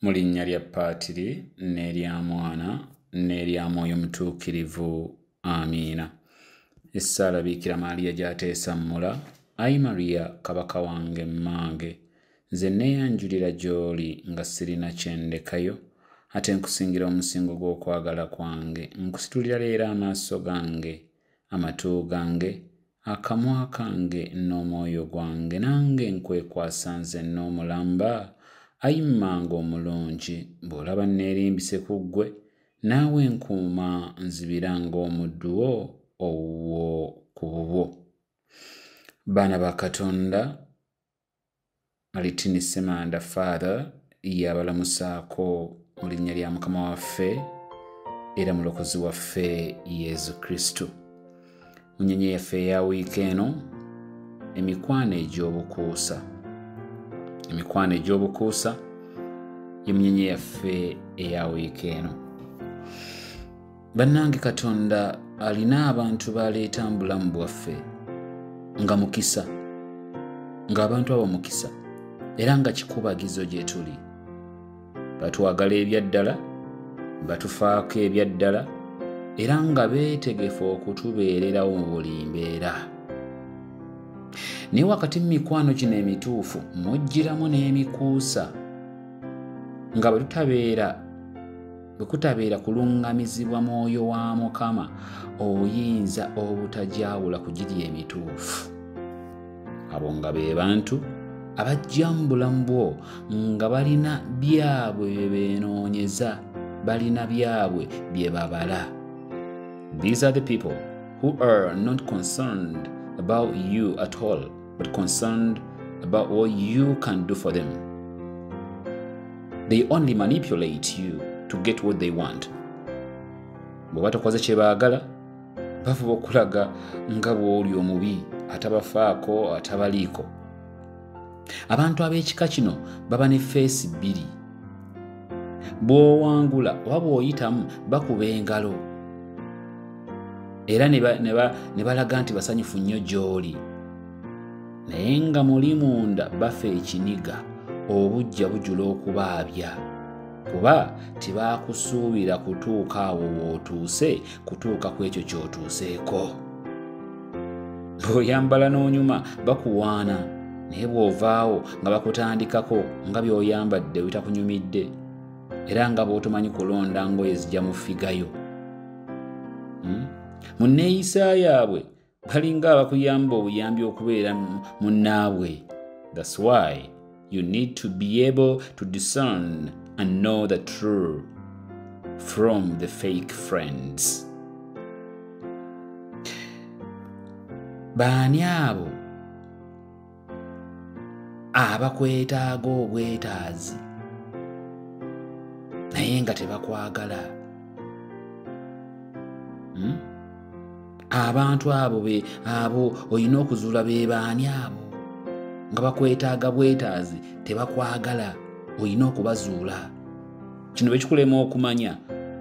mu linnya lya paatiri n'erya mwana n'erya mwoyo mutuukirivu amiina essaala biikira maaliya gyateesa mmula ayi mariya kabaka wange mmange nze neeyanjulira gy'oli nga sirina kyendekayo ate nkusingira omusingo gw'okwagala kwange nkusitulira leero amaaso gange amatu gange Akamwa kange n'omwoyo gwange nange nkwekwasa nze n'omulamba, ayi mmanga omulungi, bw'olaba nneerimbise ku ggwe, naawe nkuuma nzibira ng'omuddu wo owuwo ku bubwo. Baana ba Katonda, Malitini Semanda Father yabalamusaako mu linnya lya Mukama waffe era mulokozi waffe Yezu Kristu. Mu nnyonyi yaffe eya wiiki eno, emikwano egy'obukuusa. Emikwano egy'obukuusa ye munyenye yaffe eya wiiki eno. bannange katonda alina abantu baleeta mu bulamu bwaffe nga mukisa ng'abantu abo mukisa era nga kikubagizo gye tuli batwagala ebyaddala batufaako ebyaddala era nga beetegefu okutubeererawo mu buli mbeera naye wakati mu mikwano gino emituufu mujjiramu n'emikuusa nga bwe tutabeera bwe kutabeera kuluŋŋamizibwa mwoyo wa mukama oyinza obutagyawula ku giri emituufu abo nga be bantu abajja mu bulamu bwo nga balina byabwe bye beenoonyeza balina byabwe bye babala these are the people who are not concerned about you at all but concerned about what you can do for them. They only manipulate you to get what they want. bwe batakoze kye baagala bafuba okulaga nga bw'oli omubi atabafaako atabaliiko abantu ab'ekika kino baba ne feesi bbiri bw'owangula oba bw'oyitamu bakuba engalo era ne balaga nti basanyufu nnyo gy'oli naye nga muli munda bafa ekiniga obujja bujula okubaabya kuba tibaakusuubira kutuuka awo w'otuuse kutuuka ku ekyo ky'otuuseeko bw'oyambala n'onyuma bakuwaana naye bw'ovaawo nga bakutandikako nga by'oyambadde bitakunyumidde era nga bw'otomanyi kulonda ngoye zijja mu figayo hmm? mu nneeyisa yaabwe balinga abakuyamba obuyambi okubeera munnaabwe that's why you need to be able to discern and know the true from the fake friends baani abo abakwetaaga obwetaazi naye nga tebakwagala hmm? abantu abo be abo olina okuzuula be baani abo nga bakwetaaga bwetaazi tebakwagala olina okubazuula kino bekikulema okumanya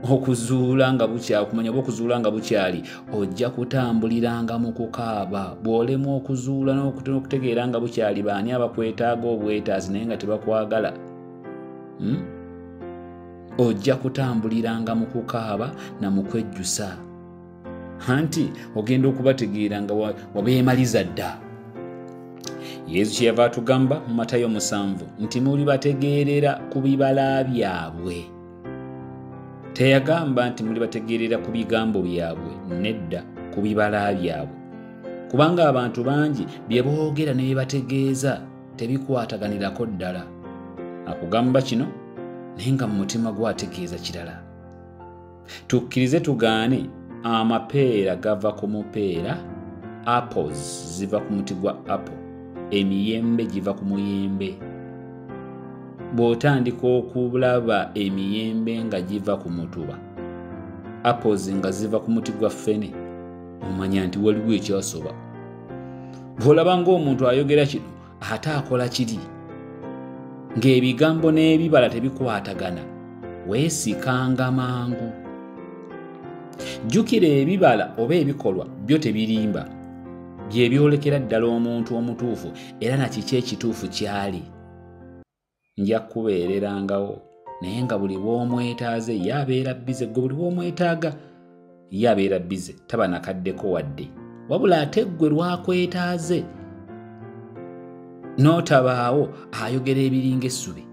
okuzuula nga bukyakumanya oba okuzuula nga bukyali ojja kutambuliranga mu kukaaba bw'olemwa okuzuula n'okutegeera nga bukyali baani abakwetaaga obwetaazi naye nga tebakwagala hmm? ojja kutambuliranga mu kukaaba na mu kwejjusa anti ogenda okubategeera nga wabeemaliza dda yesu kyeyava atugamba mu matayo musanvu nti muli bategeerera ku bibala byabwe teyagamba nti muli bategeerera ku bigambo byabwe nedda ku bibala byabwe kubanga abantu bangi bye boogera ne bye bategeeza tebikwataganirako ddala akugamba kino naye nga mu mutima gwe ategeeza kirala tukkirize tugaane amapeera gava ku mupeera apples ziva ku muti gwa apple emiyembe giva ku muyembe bw'otandika okulaba emiyembe nga giva ku mutuba apples nga ziva ku muti gwa ffene omanya nti waliwo ekyasoba bw'olaba ng'omuntu ayogera kino ate akola kiri ng'ebigambo n'ebibala tebikwatagana weesikanga mangu jjukira ebibala oba ebikolwa byo tebirimba bye byolekera ddala omuntu omutuufu era na kiki ekituufu kyali nja kukubeererangawo naye nga buli bw'omwetaaze ye abeera bize gwe buli bw'omwetaaga ye abeera bize taba nakaddeko wadde wabula ate ggwe lwakwetaaze n'otabaawo ayogera ebiringa essubi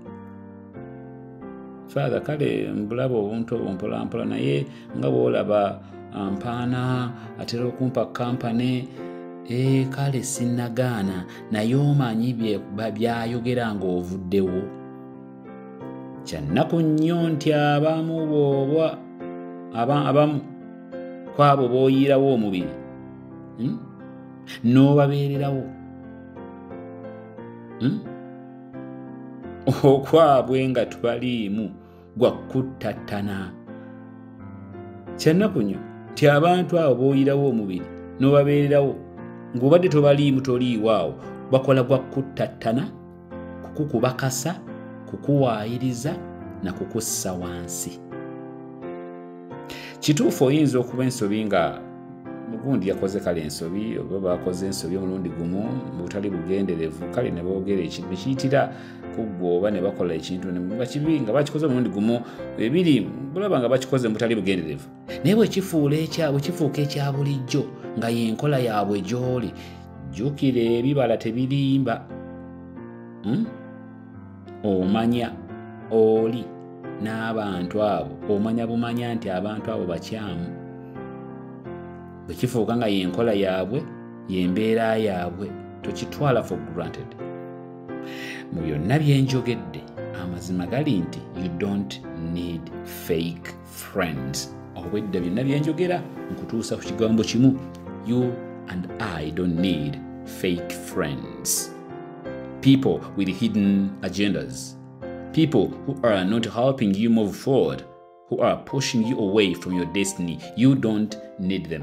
faatha kale mbulaba obuntu obwo mpolampola naye nga bwolaba ah, mpaana atera okumpa kampane eh, kale sinagaana naye omanyi byayogera ng'ovuddewo kyannaku nnyo nti abamu booba abamu kwabo booyiirawo omubiri hmm? n'obabeererawo hmm? okwabwe nga tubaliimu gwa kuttattana kyannaku nnyo nti abantu abo booyirawo omubiri n'obabeererawo ng'obadde tobaliimu toliiwo awo bakola gwa kuttattana kukukubakasa kukuwaayiriza na kukussa wansi kituufu oyinza okuba ensobi nga mugundi yakoze kale ensobi oba bakoze ensobi omulundi gumu mubutali bugenderevu kale nebogera ekintu nekiyitira kuggwooba ne bakola ekintu nga kibi nga bakikoze omulundi gumu ebiri bulaba nga bakikoze mu butali bugenderevu naye bwekifuula ekyabwe kifuuka ekya bulijjo nga yenkola yaabwe gy'oli jjukira ebibala tebirimba hmm? omanya oli n'abantu abo omanya bumanya nti abantu abo bakyamu bwe kifuuka nga yenkola yaabwe yembeera yaabwe tokitwala for granted mu byonna byenjogedde amazima gali nti you don't need fake friends obwedda byonna byenjogera nkutuusa ku kigambo kimu you and i don't need fake friends people with hidden agendas people who are not helping you move forward who are pushing you away from your destiny you don't need them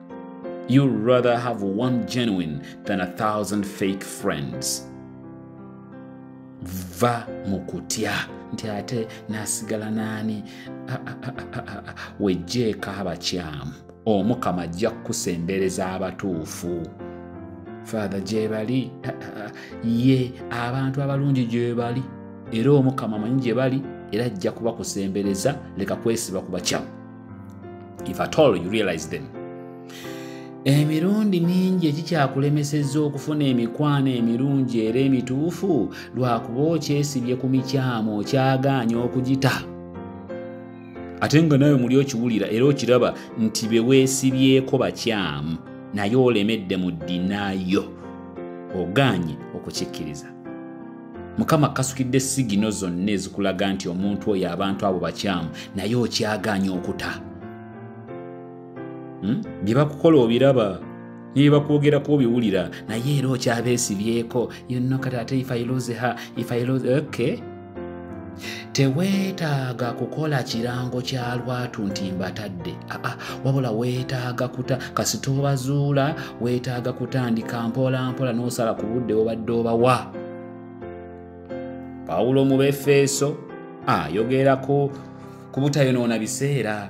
You rather have one genuine than a thousand fake friends. Va mukutya nti ate nasigala nani wejjeeko abakyamu omukama ajja kukusembereza abatuufu faatha gyebali ye abantu abalungi gyebali era omukama manyi gyebali era ajja kubakusembereza leka kwesiba ku bakyamu if at all you realize them emirundi mingi ekikyakulemesezza okufuna emikwano emirungi era emituufu lwakuba okyesibye ku mikyamu okyagaanya okugita ate nga nawe muli okiwulira era okiraba nti be weesibyeko bakyamu naye olemedde mu ddinayo ogaanye okukikkiriza mukama kasukidde sigino zonna ezikulaga nti omuntu oyo abantu abo bakyamu naye okyagaanya okuta hmm? bye bakukola obiraba nebakwogerako obiwulira naye era okyabeesibyeko yonno kati ate ifailozeha ifailoze okay teweetaaga kukola kirango kya lwatu nti mbatadde aa wabula weetaaga kuta kasita obazuula weetaaga kutandika mpolampola n'osala ku budde obadde obawa pawulo mu befeeso ayogerako ku butayonoona biseera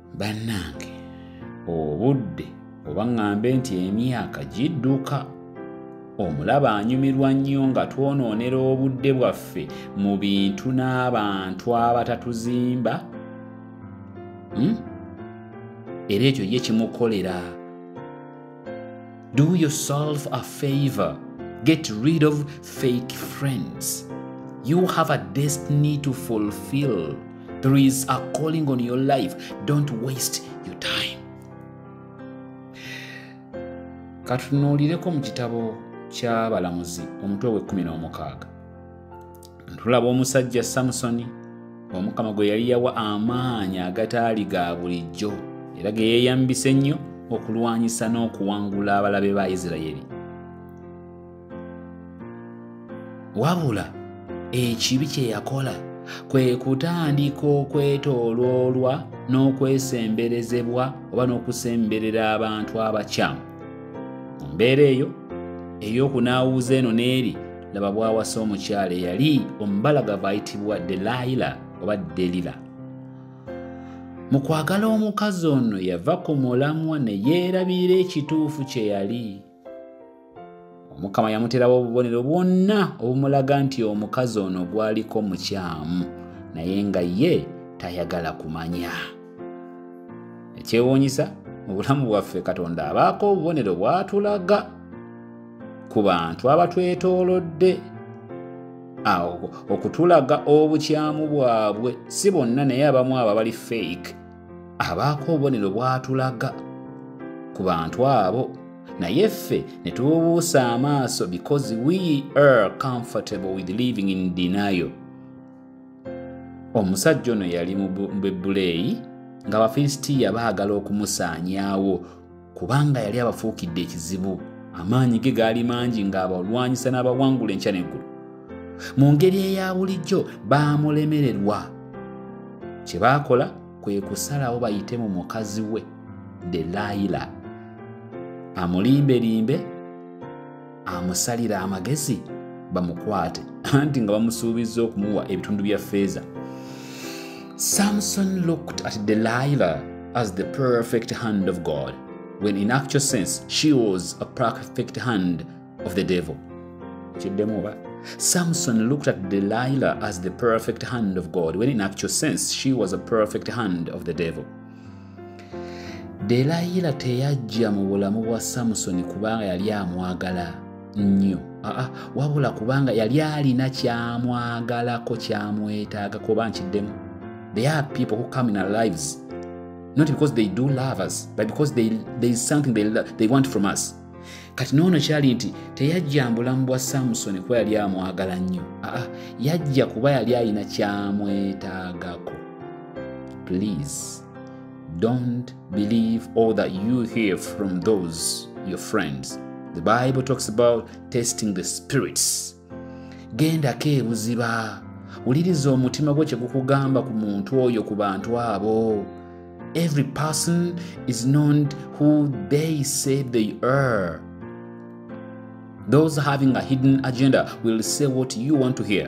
bannange obudde oba ŋŋambe nti emyaka gidduka omulaba anyumirwa nnyo nga twonoonera obudde bwaffe mu bintu n'abantu abatatuzimba hmm? era ekyo ye kimukolera Do yourself a favor. Get rid of fake friends. You have a destiny to fulfill. There is a calling on your life. Don't waste your time. katunuulireko mu kitabo ky'abalamuzi omutwe w'ekkumi n'omukaaga tulaba omusajja samusoni omukama gwe yali yawa amaanyi agataali ga bulijjo era ge yeeyambisa ennyo okulwanyisa n'okuwangula abalabe ba isirayiri wabula ekibi kye yakola kwe kutandika okwetooloolwa n'okwesemberezebwa oba n'okusemberera abantu abakyamu mu mbeera eyo ey'okunaawuuza eno n'eri laba bwawasa omukyala eyali omubalagavu ayitibwa delayila oba delila mu kwagala omukazi ono yava ku mulamwa ne yeerabira ekituufu kye yali omukama yamuterawo obubonero bwonna obumulaga nti omukazi ono gwaliko mukyamu naye nga ye tayagala kumanya ekyewuunyisa mu bulamu bwaffe katonda abaako obubonero bwatulaga ku bantu abatwetoolodde awo okutulaga obukyamu bwabwe si bonna naye abamu abo abali fake abaako obubonero bwatulaga ku bantu abo naye ffe ne tububuusa amaaso because we are comfortable with living in denial omusajja ono yali mu bebuleeyi nga bafilistiya baagala okumusaanyaawo kubanga yali abafuukidde ekizibu amaanyi ge gaali mangi ng'abalwanyisa n'abawangula enkya n'eggulu mu ngeri eya bulijjo baamulemererwa kye baakola kwe kusalawo bayite mu mukazi we delayila amulimbelimbe amusalira amagezi bamukwate anti nga bamusuubizza okumuwa ebitundu bya feeza samson looked at delilah as the perfect hand of god when in actual sense she was a perfect hand of the devil kiddemu oba Samson looked at Delilah as the perfect hand of God, when in actual sense, she was a perfect hand of the devil. delayira teyajja mu bulamu bwa samusoni kubanga yali amwagala nnyo aa wabula kubanga yali alina kyamwagalako kyamwetaaga kuba nkiddemu there are people who come in our lives not because they do love us but because they, there is something they, they want from us kati noono kyali nti teyajja mbulamu bwa samusoni kuba yali amwagala nnyo aa yajja kuba yali alina kyamwetaagako please don't believe all that you hear from those your friends the bible talks about testing the spirits gendako ebuziba wuliriza omutima gwo kyegukugamba ku muntu oyo ku bantu abo every person is known who they say they are those having a hidden agenda will say what you want to hear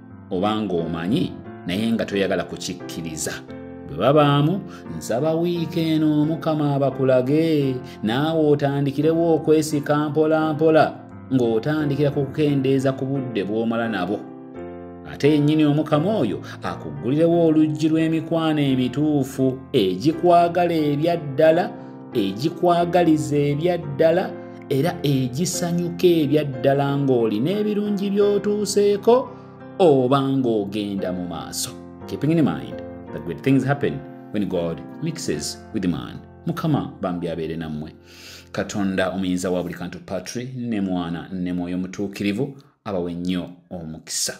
oba ng'omanyi naye nga toyagala kukikkiriza bwe babaamu nsaba wiiki eno omukama abakulage naawe otandikirewo okwesika mpolampola ng'otandikira ku kukendeeza ku budde bw'omala nabo ate yennyini omukama oyo akuggulirewo oluggi lw'emikwano emituufu egikwagala ebyaddala egikwagaliza ebyaddala era egisanyuka ebyaddala ng'oli n'ebirungi by'otuuseeko oba ng'ogenda mu maaso keeping in mind that great things happen when god mixes with man mukama bambi abeere nammwe katonda omuyinza wa buli kantu patri ne mwana ne mwoyo mutuukirivu abawe nnyo omukisa